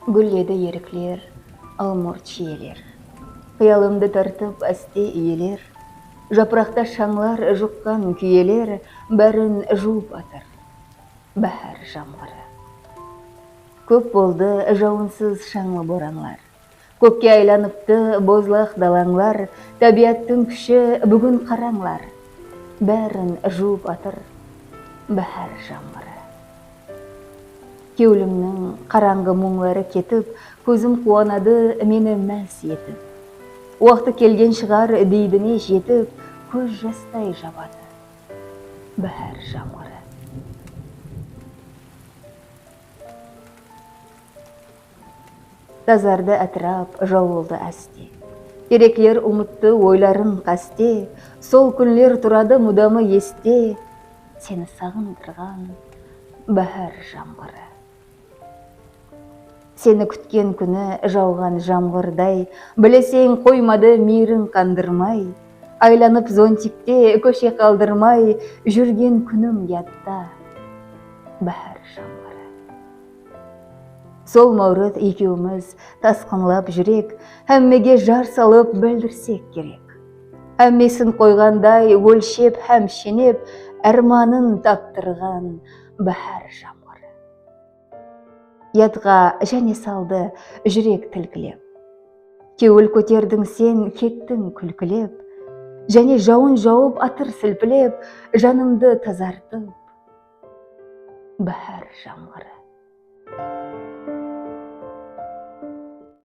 Gúlledi erikler, al-murt shiyeler. Qıyalımdı tartıp áste iyeler. Japıraqta shańlar juqqan kúyeler Bárin juwıp atır báhár jamǵırı. Kóp boldı jawınsız shańlı boranlar. Kókke aylanıptı bozlaq dalańlar, Tábiyattıń kúshi búgin qarańlar, Bárin juwıp atır báhár jańǵırı. Kewlimniń qarańǵı muńları ketip, Kózim quwanadı meni más etip. Waqtı kelgen shıǵar deydine jetip, Kóz jastay jabadı báhár jańǵırı. Tazardı átirap, jawıldı áste. Terekler umıttı oyların qáste, Sol kúnler turadı mudamı este, Seni saǵındırǵan báhár jamǵırı. Seni kútken kúni jawǵan jamǵırday, Bileseń, qoymadı miyriń qandırmay, Aylanıp zontikte kóshe qaldırmay, Júrgen kúnim yatta báhár jamǵırı. Sol Máwriz ekewimiz tasqınlap júrek, Hámmege jar salıp bildirsek kerek. Hámmesin qoyǵanday ólshep hám shenep, Ármanın taptırǵan báhár jamǵırı. Yadǵa jáne saldı júrek tilkilep, Kewil kóterdiń sen, kettiń kúlkilep. Jáne jawın jawıp atır silpilep, Janımdı tazartıp. Báhár jańǵırı.